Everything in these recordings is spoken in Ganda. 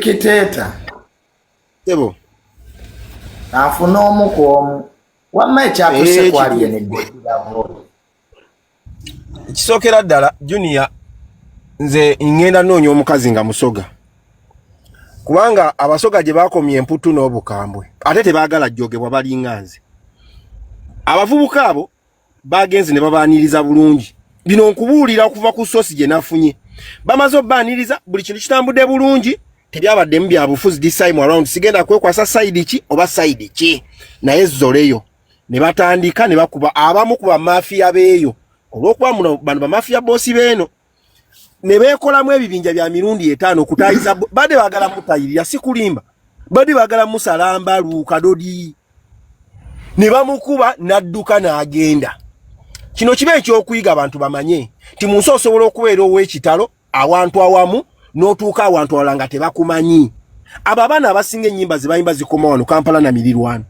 Kiteeta. Sebo. Afuna omu ku omu. Wamma ekyatuse eh, kwali ene gwetiravo. Kisookera ddala Junior nze ngenda noonya omukazi nga musoga. Kubanga abasoga gye baakomye emputtu n'obukambwe ate tebaagala jjogebwa balinga nze. Abavubuka abo bagenze ne babaaniriza bulungi bino nkubuulira okuva ku sosi gye nafunye bamaze obaaniriza buli kintu kitambudde bulungi tebyabaddemu bya bufuzi this time around sigenda kwekwasa sayidi ki oba sayidi ki naye zoleyo ne batandika ne bakuba abamu ku bamafiya beeyo olw'okuba muno bano bamafiya boosi beeno ne beekolamu ebibinja bya mirundi etaano okutayiza bade bagala mutayirira sikulimba bade bagala musalamba lukadodi ne bamukuba n'adduka n'agenda kino kiba ekyokuyiga abantu bamanye nti mu nsi osobola okubeera ow'ekitalo awantu awamu n'otuuka awantu awala nga tebakumanyi abo abaana abasinga ennyimba ze bayimba zikoma wano kampala na mirirwano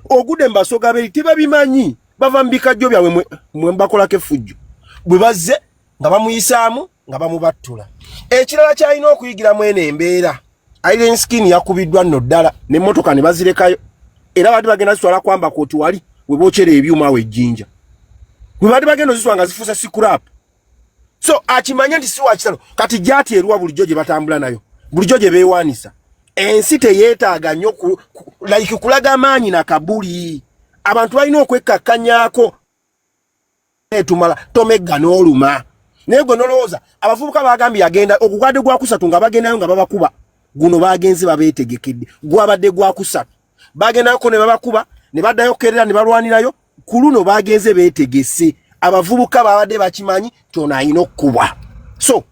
ogude mu basoga beri tebabimanyi bava mu bikajjo byabwe mwe mbakolako effujjo bwe bazze nga bamuyisaamu nga bamubattula ekirala kyalina okuyigiramu eno embeera iron skin yakubiddwa nno ddala nemmotoka ne bazirekayo era baati bagenda zitwala kwamba koti wali we bokyera ebyuma awo ejjinja we baati bagenda ozitwala nga zifuuse sikurap so akimanye nti si wakitalo kati gyati eruwa bulijjo gye batambula nayo bulijjo gye beewaanisa ensi teyeetaaga nnyo like kulaga maanyi na kabuli abantu balina okwekkakkanyako etumala tomegga n'oluma naye gwe nolowooza abavubuka bagambye yagenda ogugwadde gwakusatu nga bagendayo nga babakuba guno bagenzi babeetegekedde gwabadde gwakusatu bagendayoko ne babakuba ne baddayo kukerera ne balwanirayo ku luno bagenze beetegese abavubuka babadde bakimanyi tyono ayina okukubwa so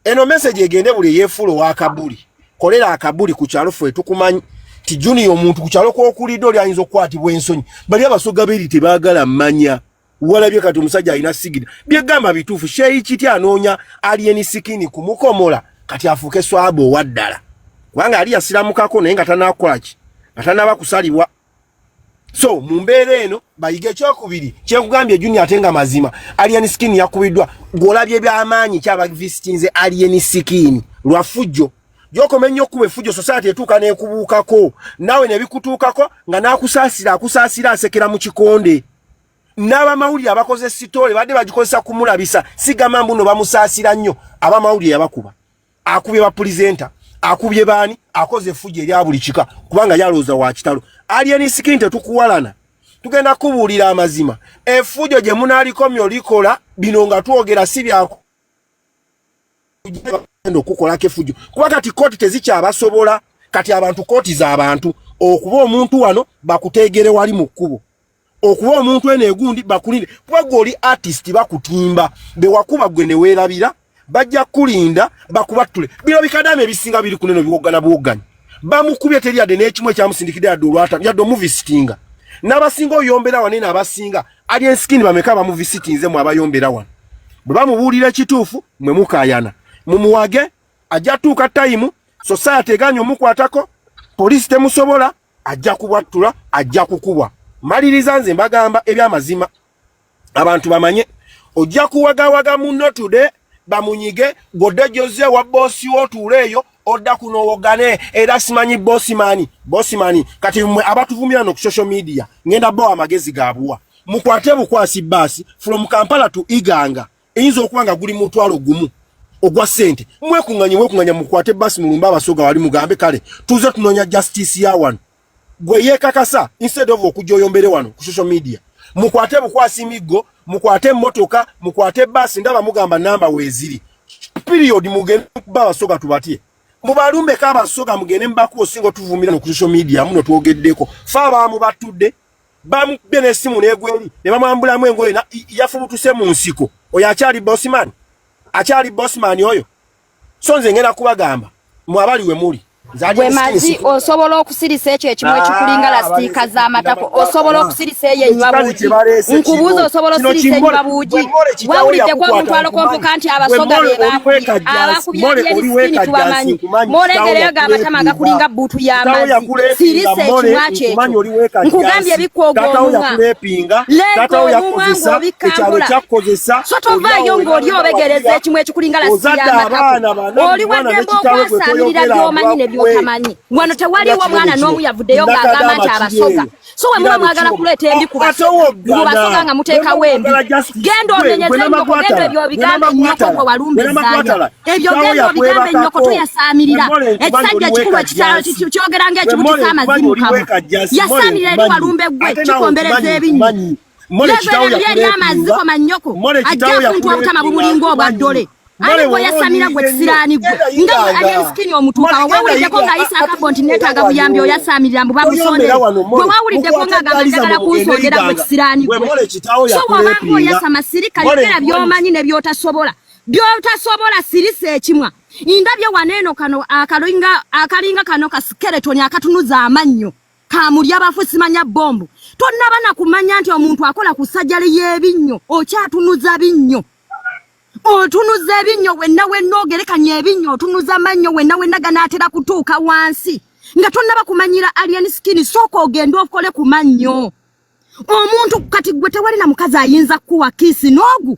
eno meseji egende buli eyefuula owakabuli kolera akabuli ku kyalo ffe tukumanyi ti juniya omuntu ku kyalo kwokulidde oli ayinza okukwatibwa ensonyi bali abasoga beri tebagala manya walabye kati omusajja alina sigida byegamba bituufu sheyi kiti anoonya alieni sikini kumukomola kati afuuke swaba owaddala kubanga ali yasiramukako naye nga tanakolaki nga tanaba kusalibwa so mu mbeera eno bayige ekyokubiri kyekugambye juni ate nga mazima alieni sikini yakubiddwa gwolabye byamaanyi kyabavisitinze alieni sikini lwafujjo gyokoma ennyo okukuba efujjo sosaati etuuka nekubuukako naawe nebikutuukako nga nakusaasira akusaasira asekera mu kikonde n'abamawulire abakoze sitoole badde bagikozesa kumulabisa sigamba mbuno bamusaasira nnyo abamawulire yabakuba akubye bapulizenta akubye baani akoze effuja erya buli kika kubanga yalowooza wa kitalo alien skin tetukuwalana tugenda kubuulira amazima effujo gye munaalikomyo likola bino nga twogera si byaku bagenda okukolako efujjo kuba kati kooti tezikyabasobola kati abantu kooti z'abantu okuba omuntu wano bakuteegere wali mu kkubo okuba omuntu eno egundi bakulinde kuba gwe oli artist bakutimba bewakuba gwe neweerabira bajja kukulinda bakubattule bino bikadamu ebisinga biri kuneno biwoggana buwogganya bamukubye teri yadde n'ekimu ekyamusindikidde yadde olwata yadde omuvisitinga n'abasinga oyombera wanene abasinga Alien skin bameka bamu visit nze mu abayombera wano. Bwe bamubuulira kituufu mwe mukayana. Mumuwage ajja tuuka time society eganyo mukwatako police temusobola ajja kubwattula ajja kukubwa. Maliriza nze mbagamba ebyamazima abantu bamanye ojja kuwagawaga munno today bamunyige gode joze wa bosi wo tuleyo odda kuno owogane era simanyi bosimani bosimani kati mwe abatuvumira no ku social media ngenda bo amagezi gabuwa mukwate bukwasi basi from kampala to iganga eyinza okuba nga guli mutwalo gumu ogwa sente mwekunganye mwekunganye mukwate basi mulumba abasoga wali mugambe kale tuze tunonya justice ya wano gwe yekakasa instead of okujja oyombere wano ku social media mukwate bukwasi miggo mukwate motoka mukwate basi ndaba mugamba namba weziri period mugende kuba abasoga tubatye mubalumbe ka abasoga mugende mbaku osinga otuvumira no ku social media muno twogeddeko fa baamu batudde bamukubye n'essimu n'egweri ne bamwambulamu engoye yafubutuse mu nsiko oyo akyali bosman akyali bosman oyo so nze ngenda kubagamba mwabali we muli gwe mazi osobola okusirisa ekyo ekimu ah, ekikulinga lasitiika z'amatako osobola okusirisa eyo enywa buugi nkubuuza osobola osirisa enywa buugi wawuliddeko omuntu alokompoka nti abasoga be bakubye abakubye byebisikini tubamanyi molegereyo ga amatama agakulinga bbuutu y'amazi sirisa ekimu akyo ekyo nkugambye ebikwoga omumwa yappinga taata wo yakozesa ekyalo kyakukozesa so tovaayo ng'oli obegereza ekimu ekikulinga lasiyaoli waddembe okwasaanirira by'omanyi ne by'otamanyi wano tewaliwo mwana n'omu yavuddeyo ng'agamba nti abasoga so we muba mwagala kuleeta embi kubasoga nga muteekawo embi genda onenyeza enkoko genda ebyo obigambe nnyoko gwe walumbizanya ebyo genda obigambe nnyoko toyasaamirira ekisajja ekikulu ekitalo kyogera ng'ekibutisa amazimu kabo yasaamirira eri walumbe gwe kikombereza ebinnya amaziko mannyoko ajja kuntu obutama bumulinga obwa ddole ani gwe yasamira gwe kisiraani gwe nga gwe alien skin omutuukawo wewuliddeko ng'ayisa akabbo nti neetaaga buyambi oyasaamirira mbu babusonde gwe wawuliddeko ng'agamba njagala kunsondera gwe kisiraani gwe so wabanga oyasama sirika yogera by'omanyi ne by'otasobola byotasobola sirisa ekimwa indabye waneeno kano akalinga akalinga kano ka skeleton akatunuza amannyo kamulya bafu simanya bombu tonnaba na kumanya nti omuntu akola ku sajali y'ebinnyo okyatunuza binnyo otunuza ebinnyo wenna wenna ogerekanya ebinnyo otunuza amannyo wenna wenna ganaatera kutuuka wansi nga tonnaba kumanyira alien skin sooka ogende okole ku mannyo omuntu kati gwe tewali na mukazi ayinza kukuwa kiisi n'ogu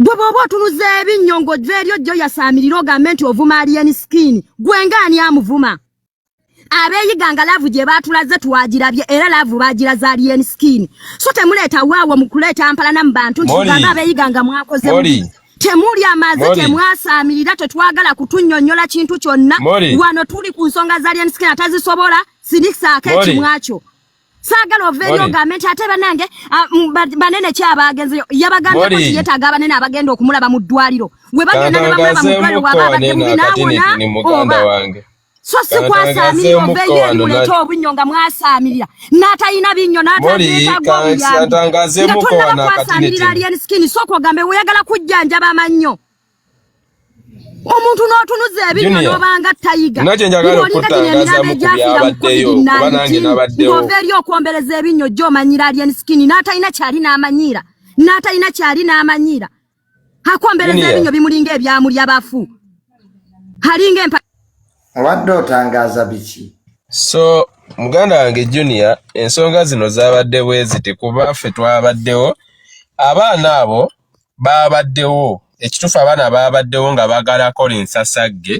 gwe bwoba otunuza ebinnyo ng'ojja eri ojja oyasaamirira ogambe nti ovuma aliyeni sikiini gwe ngaani amuvuma abeeyiga nga laavu gye baatulaze twagirabye era laavu baagiraze aliyeni sikiini so temuleeta waawo mu kuleeta mpalana mu bantu nti mugambe abeeyiga nga mwakoze temuli amazi temwasaamirira tetwagala kutunyonyola kintu kyonna wano tuli ku nsonga za aliyeni sikiini atazisobola sinisaako ekimwakyo saagala ova eri ogambe nti ate banange ah, banene ki abaagenze yabagambye ko yetaaga abanene abagenda okumulaba mu ddwaliro we bagenda ne bamulaba mu ddwaliro waba abadde mubi naawona oba so sikwasaamirira ova eyo eri muleete obunnyo nga mwasaamirira n'atalina binnyo n'ataeetaaga obuyambi nga tonnaba kwasaamirira alien skin sooka ogambe weyagala kujjanjaba amannyo omuntu n'otunuza ebinywa n'obanga tayiga ng'ova eri okwombereza ebinywa ojja omanyira alien skin n'atalina kyali n'amanyiira n'atalina kyali n'amanyiira akwombereza ebinywa bimulinga ebyamuli abafu alinga empa obadde otangaaza biki so muganda wange junior ensonga zino zaabadde bweziti kuba ffe twabaddewo abaana abo baabaddewo ekituufu abaana baabaddewo nga baagala kola ensasagge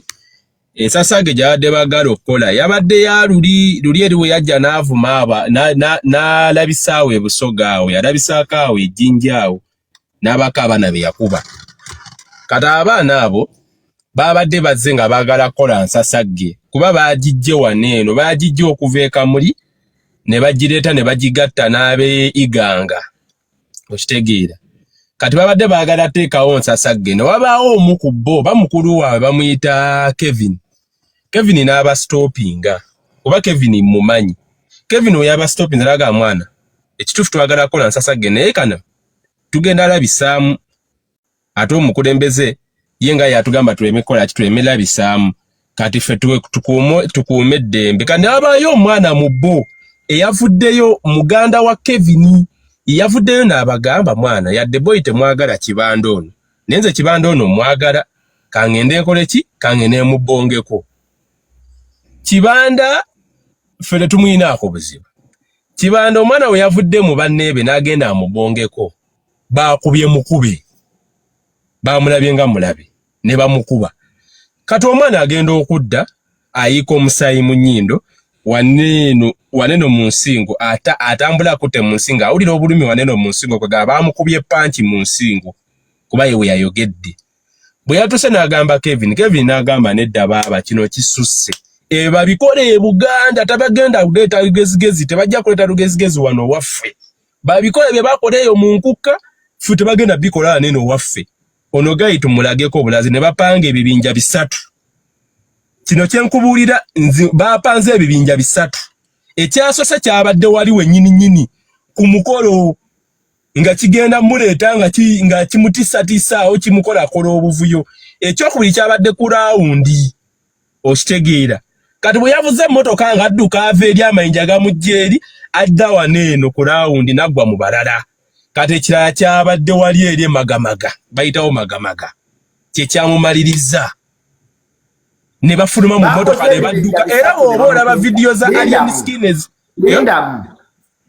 ensasagge gyabadde baagala okukola yabadde ya luli luli eri bwe yajja n'avuma aba n'alabisaawo ebusoga awo yalabisaako awo ejjinja awo n'abaako abaana be yakuba kati abaana abo baabadde bazze nga baagala kukola nsasagge kuba baagijje wano eno baagijje okuva ekamuli ne bagireeta ne bagigatta n'ab'e iganga okitegeera kati babadde baagala teekawo nsasagge ne wabaawo omu ku bo oba mukulu waabwe bamuyita kevin kevin n'abasitoopinga oba kevin mumanyi kevin oyo abasitoopinga naga mwana ekituufu twagala kukola nsasagge naye kana tugenda labisaamu ate omukulembeze ye nga yatugamba tuleme kukola ki tuleme labisaamu kati ffe tukuume eddembe kati nabaayo omwana mu bo eyavuddeyo muganda wa kevini yavuddeyo n'abagamba mwana yadde boyi temwagala kibanda ono naye nze kibanda ono mwagala kangende nkole ki kangende mubongeko kibanda ffe tetumuyinaako buzibu kibanda omwana we yavudde mu banneebe n'agenda amubongeko baakubye mukube baamulabye nga mulabe ne bamukuba kati omwana agenda okudda ayiika omusaayi mu nnyindo waneeno waneeno mu nsingo ata atambula akutte mu nsingo awulira obulumi waneeno mu nsingo kwegaba baamukubye panki mu nsingo kuba ye we yayogedde bwe yatuuse n'agamba kevin kevin n'agamba nedda baaba kino kisusse ebyo babikola e buganda tabagenda kuleeta lugezigezi tebajja kuleeta lugezigezi wano waffe babikole bye bakola eyo mu nkukka ffe tebagenda bikola anene owaffe ono gayi tumulageko obulazi ne bapanga ebibinja bisatu kino kyenkubuulira nzi bapanze ebibinja bisatu ekyasose kyabadde wali wenyini nyini ku mukolo nga kigenda muleeta nga ki, nga kimutisatiisaawo kimukolakola obuvuyo ekyokubiri kyabadde ku rawundi okitegeera kati bwe yavuze emmotoka nga adduka ava eri amayinja gamujja eri adda wano eno ku laawundi naggwa mu balala kati ekirala kyabadde wali eri emagamaga bayitawo magamaga kye kyamumaliriza ne bafuluma mu mmotoka ne badduka era bw'oba olaba vidiyo za alien skins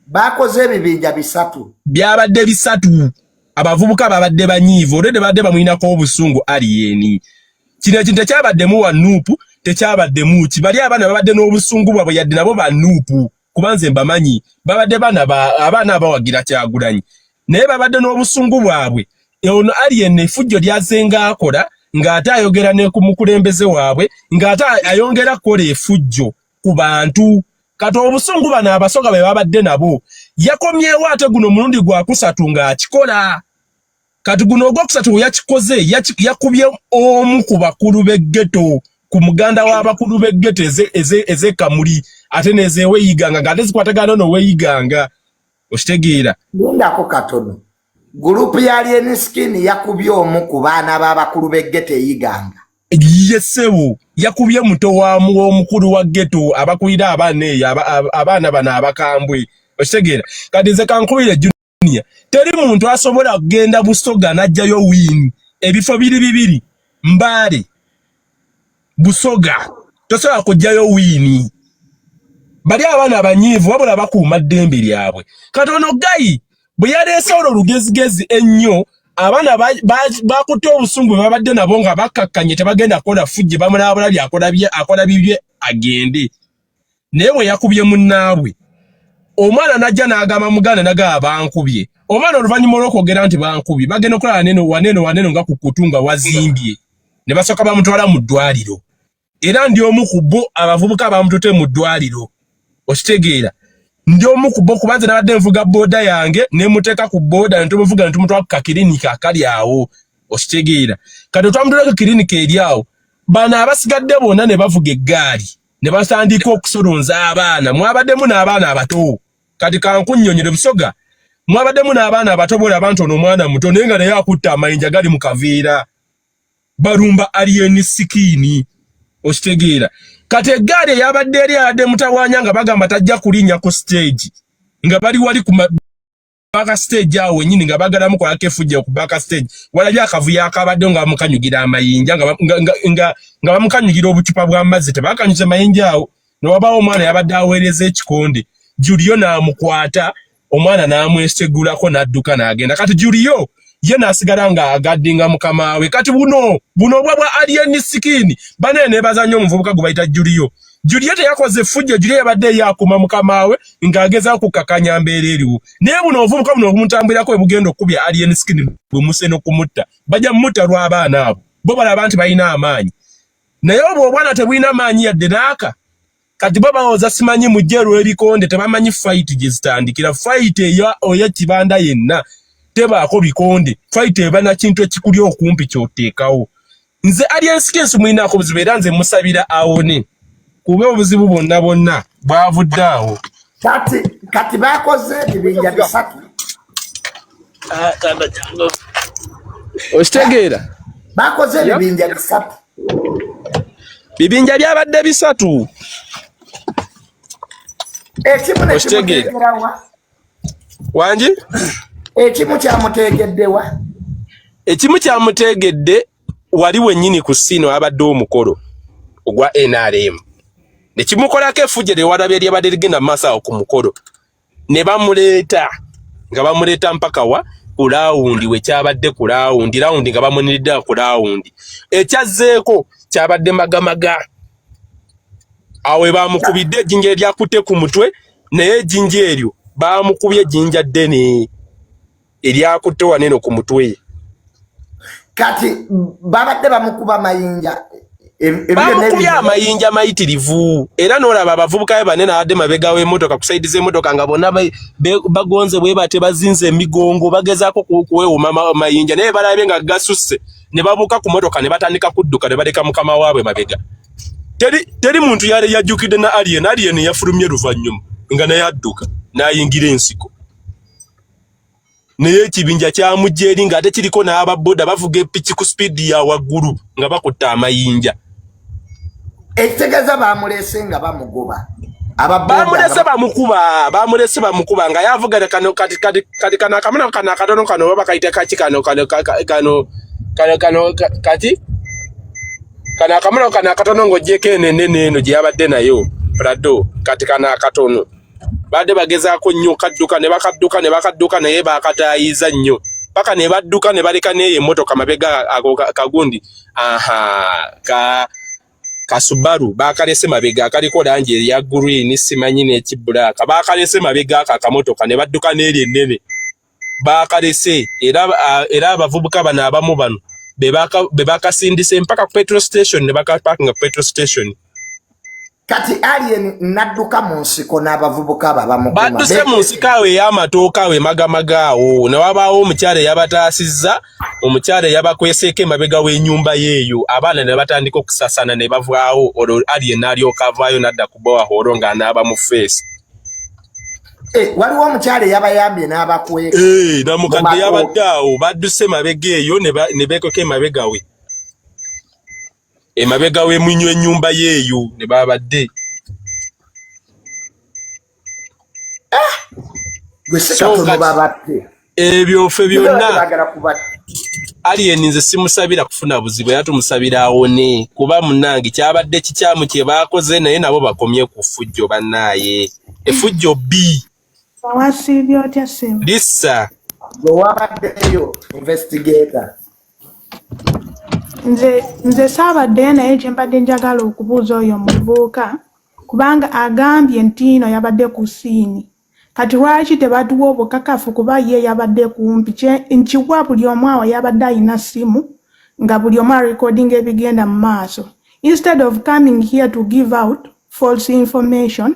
baakoze ebibinja bisatu byabadde bisatu abavubuka babadde banyiivu olwedde babadde bamulinako obusungu aliyeni kino ekintu tekyabaddemu wa nuupu tekyabaddemu ki bali abaana babadde n'obusungu bwabwe yadde nabo ba nuupu kuba nze mbamanyi babadde baana abaana abawagira kyagulanyi naye babadde n'obusungu bwabwe e ono aliyeni efujjo lyazenga akola ng'ate ayogera ne ku mukulembeze waabwe ng'ate ayongera kukola efujjo ku bantu kati obusungu bano abasoga be babadde nabo yakomyewo ate guno omulundi gwakusatu ng'akikola kati guno ogwokusatu weyakikoze yakubye omu ku bakulu b'eggeto ku muganda w'abakulu b'eggeto ez'ekamuli ate nezeweeyiganga ng'ate zikwatagana noweeyiganga okitegeera lindako katono Gurupu ya Alien Skin yakubye omu ku baana b'abakulu b'e Ghetto e Iganga. Ye ssebo yakubye muto wa w'omukulu wa Ghetto abakulira abaana eyo abaana bano abakambwe okitegeera kati nze kankubire junior teri muntu asobola kugenda busoga n'ajjayo wiini ebifo biri bibiri mbaale busoga tosobola kujjayo wiini bali abaana abanyiivu wabula bakuuma ddembe lyabwe kati ono gayi bwe yaleese olwo lugezigezi ennyo abaana bakutte obusungu bwe babadde nabo nga bakkakkanye tebagenda kukola fujje bamulabula byakola bye akola bibye agende naye bwe yakubye munnaabwe omwana najja n'agamba muganda nagaba bankubye omwana oluvannyuma olw'okwogera nti bankubye bagenda okulaba neno waneno waneno nga ku kutu nga wazimbye ne basooka bamutwala mu ddwaliro era ndi omu ku bo abavubuka bamutute mu ddwaliro okitegeera ndi omu ku bo kubanze nabadde nvuga booda yange ne muteeka ku booda ne tumuvuga ne tumutwala ku kakirinika akali awo okitegeera kati otwamutwala ku kirinika eri awo bano abasigadde bonna ne bavuga eggaali ne basandika okusolonza abaana mwabademu n'abaana abato kati kankunyonyere busoga mwabademu n'abaana abato bola abantu ono omwana muto naye nga naye akutta amayinja gali mu kaveera balumba alien sikini okitegeera kati eggaali eyabadde eri abadde mutawanya nga bagamba tajja kulinya ku stage nga bali wali ku baka stage awo wenyini nga bagala mu kwa kefujja ku baka stage wala bya kavuya akabadde nga bamukanyugira amayinja nga nga nga, nga, nga bamukanyugira obucupa bwa mazzi tebakanyuze mayinja awo ne wabawo omwana yabadde aweereza ekikonde Julio n'amukwata omwana n'amwesegulako n'adduka n'agenda kati Julio ye nasigala nga agaddinga mukama we kati buno buno obwa bwa alien skin bane nebazanyo omuvubuka gwe bayita Julio Julie teyakoze fujjo Julie yabadde yakuma mukamaawe ng'ageza ku kakanya mbeera eriwo naye buno obuvubuka buno obumutambulirako bwe bugenda okukubya alien skin bwe muse n'okumutta bajja mutta lw'abaana abo bo balaba nti balina amaanyi naye obwo obwana tebulina maanyi yadde naaka kati bo bawoza simanyi mujje lw'ebikonde tebamanyi fayiti gye zitandikira fayiti eyo oyo kibanda yenna tebaako bikonde fayiti eba na kintu ekikuli okumpi ky'oteekawo nze alienskensi mulinaako obuzibu era nze musabira awone kuba obuzibu bwonna bwonna bwavudde awo kati kati bakoze ebibinja bisatu okitegeera bakoze ebibinja bisatu bibinja byabadde bisatu ekimu nekimugerawa wangi ekimu kyamuteegeddewa ekimu kyamuteegedde wali wennyini ku siino abadde omukolo ogwa nrm nekimukolako efujja lyewalabye lyabadde ligenda maaso awo ku mukolo ne bamuleeta nga bamuleeta mpaka wa ku laawundi wekyabadde ku laawundi laawundi nga bamuniridde ku laawundi ekyazzeeko kyabadde magamaga awo bamukubidde ejjinja eryakutte ku mutwe naye ejjinja eryo bamukubye ejjinja ddene eryakutte waneno ku mutwe kati babadde bamukuba mayinja bamukubye amayinja mayitirivu era nolaba abavubuka be bane nawadde mabega w'emotoka kusaidiza emotoka nga bonna bagonze bweba tebazinze emigongo bagezaako kuweewuma mayinja naye balabye nga gasusse ne babuuka ku motoka ne batandika kudduka ne baleka mukama waabwe mabega teri, teri muntu yali yajjukidde na alien alien yafulumye luvannyuma nga naye adduka n'ayingira ensiko naye ekibinja kyamujja eri ng'ate kiriko n'ababoda bavuga epiki ku sipiidi ya waggulu nga bakutte amayinja ekitegeza bamulese nga bamugoba bamulese bamukuba bamulese bamukuba nga yavugana kano kati kati kati kano akamuna kano akatono kano baba kayita kaki kano kano kano kano kano kati kano akamuna kano akatono ng'ogyeko eno enene eno gye yabadde nayo prado kati kano akatono baadde bagezaako nnyo kadduka ne bakadduka ne bakadduka naye bakataayiza nnyo paka ne badduka ne baleka neeyo emmotoka mabega ago kagundi aha ka kasubaru bakalese mabega akaliko langi eya green simanyi n'ekibulaaka bakalese mabega ako akamotoka ne badduka n'eri ennene baakalese era abavubuka bano abamu bano be bakasindise mpaka ku petrol station ne bakapakinga ku petrol station kati alien nadduka mu nsiko n'abavubuka abo abamukumabadduse mu nsiko awo ey'amatooka awo emagamaga awo ne wabaawo omukyala eyabataasizza omukyala eyabakweseeko emabega w'enyumba yeeyo abaana ne batandika okusasana ne bavaawo olwo alien n'alyoka avaayo n'adda ku bowahooro ng'anaaba mu feesi Eh, waliwo omukyala eyabayambye n'abakweka eh, namukadde yabadde awo badduse emabega eyo ne beekweka emabega we emabega we munywa ennyumba yeeyo ne babadde ah! gwe sikatono babadde ebyo ffe byonna alien nze simusabira kufuna buzibu era tumusabira awone kuba munange kyabadde kikyamu kye baakoze naye nabo bakomye ku ffujjo bannaaye effujjo bbi lisa gwewabaddeyo investigator nze nze saabaddeyo naye kyembadde njagala okubuuza oyo omuvubuka kubanga agambye ntiino yabadde ku siini Kati lwaki tebatuwa obukakafu kuba ye yabadde kumpi nkiwa buli omu awo yabadde alina simu nga buli omu arecordinga ebigenda mu maaso instead of coming here to give out false information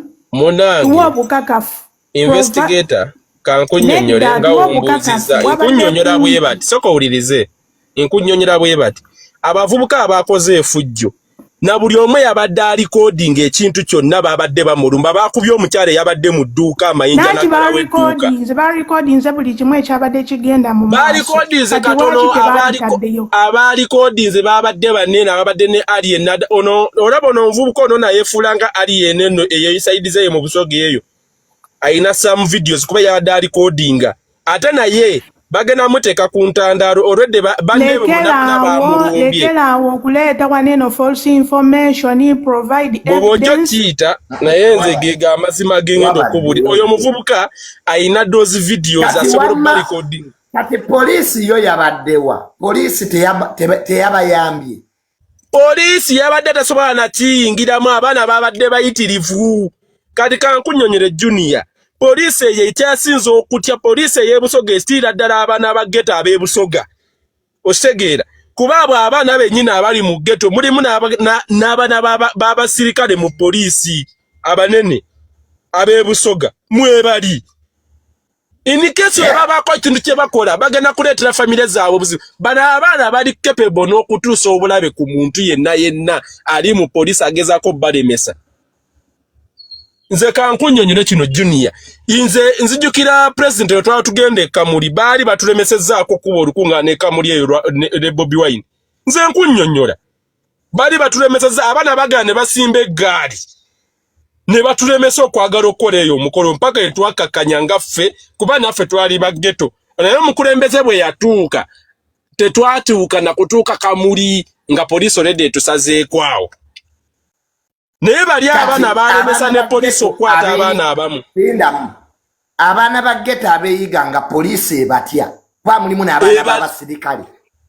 tuwa obukakafu investigator kankunyonyole nga ombuuziza nkunyonyola bwebati soka owulirize nkunyonyera bwe bati abavubuka abakoze efujjo na buli omu yabadde alikodinga ekintu kyonna babadde bamulumba bakubye omukyala eyabadde mu dduuka amayinja balikodinze katono abalikodinze babadde banene ababadde ne alien olaba ono omuvubuka ono nayefuula nga alien eno eyo isaidize eyo mu busoga eyo alina some videos kuba yabadde alikodinga ate naye bagenda muteeka ku ntandaalo olwedde banneemunabamulekeraawo okuleeta waneno false information provide bwoba ojja okiyita naye nze geega amazima gengenda okubuli oyo omuvubuka alina dozi vidiyo zasobola okubalikodi kati poliisi yo yabaddewa poliisi teyabayambye Poliisi yabadde tasobola nakiyingiramu, abaana babadde bayitirivu. Kati kankunyonyere Junior, poliisi eyo ekyasinze okutya poliisi ey'ebusoga esitira ddala abaana ba geto ab'ebusoga, okitegeera kuba abo abaana bennyini abali mu geto mulimu n'abaana b'abasirikale mu poliisi abanene ab'ebusoga mwebali in case yeah. babako ekintu kye bakola bagenda kuleetera famire zaabwe obuzibu bano abaana bali capable n'okutuusa obulabe ku muntu yenna yenna ali mu poliisi agezaako balemesa nze kankunyonyole kino junior nze nzijukira president we twala tugenda ekamuli baali batulemesezzaako kuba olukuŋŋaana ekamuli eyo ne bobi wine nze nkunyonyola baali batulemesezza abaana bagaana ne basimba eggaali ne batulemesa okwagala okukola eyo omukolo mpaka etwakakanya nga ffe kuba naffe twali baggeto naye omukulembeze bwe yatuuka tetwatuuka na kutuuka kamuli nga poliisi olede etusazeeko awo naye bali abaana balemesa ne poliisi okukwata abaana abamu abaana ba geta abeyiga nga poliisi ebatya kuba mulimu n'abaana babasirikale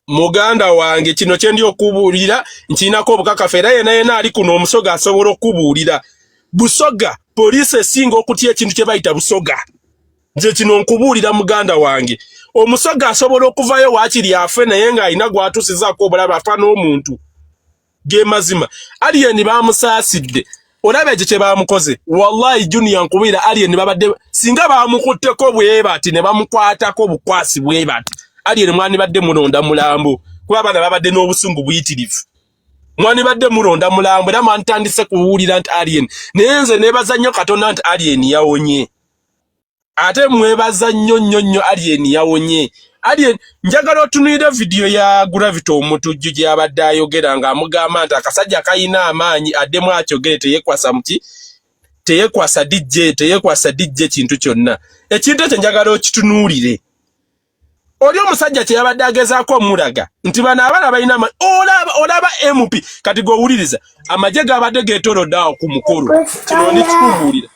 muganda wange kino kyendi okubuulira nkiinako obukakafu era yena yena ali kuno omusoga asobola okubuulira busoga poliisi esinga okutya ekintu kye bayita busoga nze kino nkubuulira muganda wange omusoga asobola okuvayo wakiri afe naye ng'alina gwatusizaako obulabe afa n'omuntu gemazima alien bamusaasidde olaba ekyo kye baamukoze wallahi junior nkubiira alien babadde singa baamukutteko bwebati ne bamukwatako obukwasi bwebati alien mwandibadde mulonda mulambo kuba abaana babadde n'obusungu buyitirivu mwandibadde mulonda mulambo era mwantandise kuwulira nti alien naye nze nebaza nnyo katonda nti alien yawonye ate mwebaza nnyo nnyo nnyo alien yawonye alien njagala otunulire vidiyo ya gravity omutujju gye yabadde ayogera ng'amugamba nti akasajja kalina amaanyi addemu akyogere teyekwasa muki teyekwasa dijje teyekwasa dijje kintu kyonna ekintu ekyo njagala okitunuulire oli omusajja kyeyabadde agezaako omulaga nti bano abana balina olaba olaba mp kati gowuliriza amagye gabadde getolodde awo ku mukolo kino nikikubuulira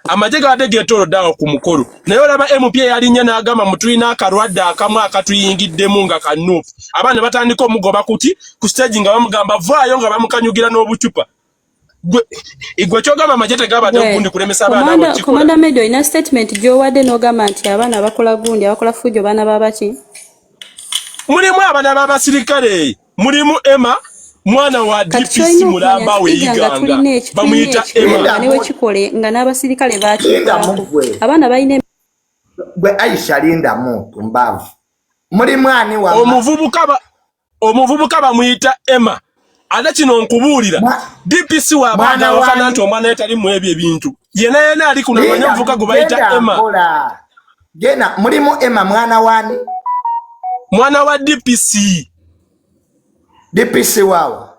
amagye gabadde getolodde awo ku mukolo naye olaba mp eyalinnya n'agamba mutulina akalwadde akamu akatuyingiddemu nga kanuupu abaana batandika omugoba kuki ku stage nga bamugamba vaayo nga bamukanyugira n'obucupa igwe kyogamba amagye tegabadde ogundi kulemesa abaana komanda medo olina statement gyowadde n'ogamba nti abaana abakola gundi abakola fujo baana babaki mulimu abana babasirikale mulimu ema mwana wa dpc mulamba weyiganga bamuyita emawekikole nga n'abasirikale bakiga abaana balina gwe aisha lindamu tumbavu mulimu ani wa omuvubuka omuvubuka bamuyita Emma ate kino nkubuulira DPC wabaanawakana nti omwana ye tali mu ebyo ebintu yena yena ali kuno amanya omuvubuka gwe bayita Emma gena mulimu Emma mwana wani mwana wa DPC DPC waawa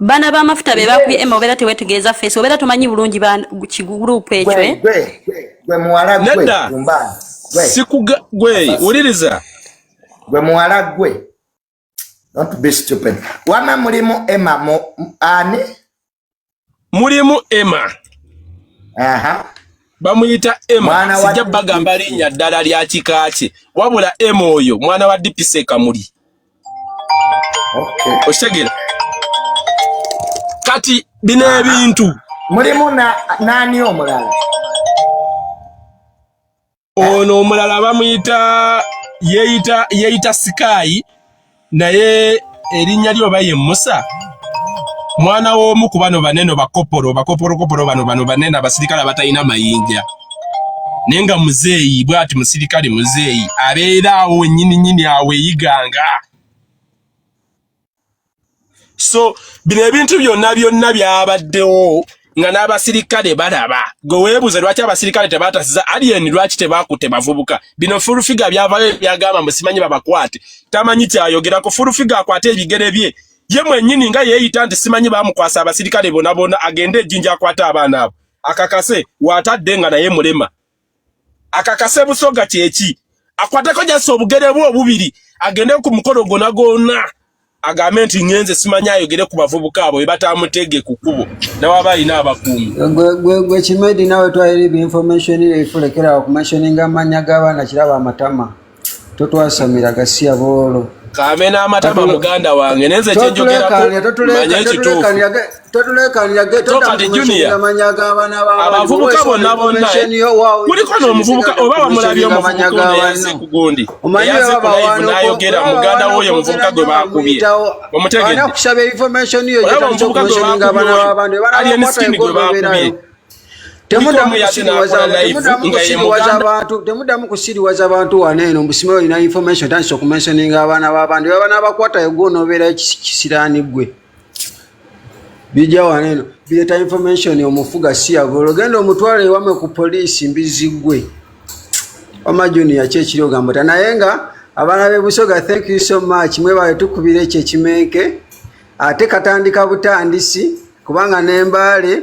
bana ba mafuta be bakubye ema obera tewetegeeza face obera tomanyi bulungi ba kigroup ekyo eh gwe gwe muwala gwe kumba sikuga gwe uliriza gwe muwala gwe don't be stupid wama mulimu ema mu ani mulimu ema aha bamuyita ema sijja bagamba linya ddala lya kikaaki wabula ema oyo mwana wa dipise kamuli okitegeera kati bino ebintu mulimu nani omulala ono omulala bamuyita yeyita yeyita sikaayi naye erinnya lyo oba ye musa mwana w'omu ku bano baneno bakopolo bakoporokopolo bano bano banene abasirikale abatalina mayinja naye nga muzeeyi bwati musirikale muzeeyi abeera awo wenyini nyini awo eyiganga so bino ebintu byonna byonna byabaddewo nga n'abasirikale balaba gwe weebuuze lwaki abasirikale tebatasiza alien lwaki tebakutte bavubuka bino fulufiga byavayo byagamba musimanyi babakwate tamanyi kyayogera ku fulufiga akwate ebigere bye ye mwenyini nga yeeyita nti simanyi bamukwasa abasirikale bonabona agende ejjinja akwate abaana abo akakase watadde nga naye mulema akakase busoga kyeki akwateko jasi obugere bwe obubiri agende ku mukolo gona gona agambe nti ngenze simanya ayogere ku bavubuka abo bebatamutege ku kubo nawaba alina abakuumi gwe kimedi nawe twayiri bi information efulekera okumensioninga amanya g'abaana kiraba amatama totwasamira gasiya boolo kamena amatama muganda wange nenze kyenjogerakumanya ekituufuabavubuka bonna bonna kuliko nomuvubuka oba wamulabye omuvubukaensi kugundi eyaze kulive nayogera muganda woyo omuvubuka gwe bakubye omutegedeomuvubuka gwe bakubye alien skin gwe bakubye temudamu kusiriwaza abantu wano eno mbusima olina information tandisa okumensioninga abaana babandi baba nabakwatayo gwe onobeerayo kisiraani gwe bijja wano eno bireeta information omufuga siyava olugenda omutwalo ewame ku poliisi mbizi gwe wama junior ki ekiri ogamba ta naye nga abaana bebusoga thank you so much mwebale tukubira ekyo ekimenke ate katandika butandisi kubanga nembaale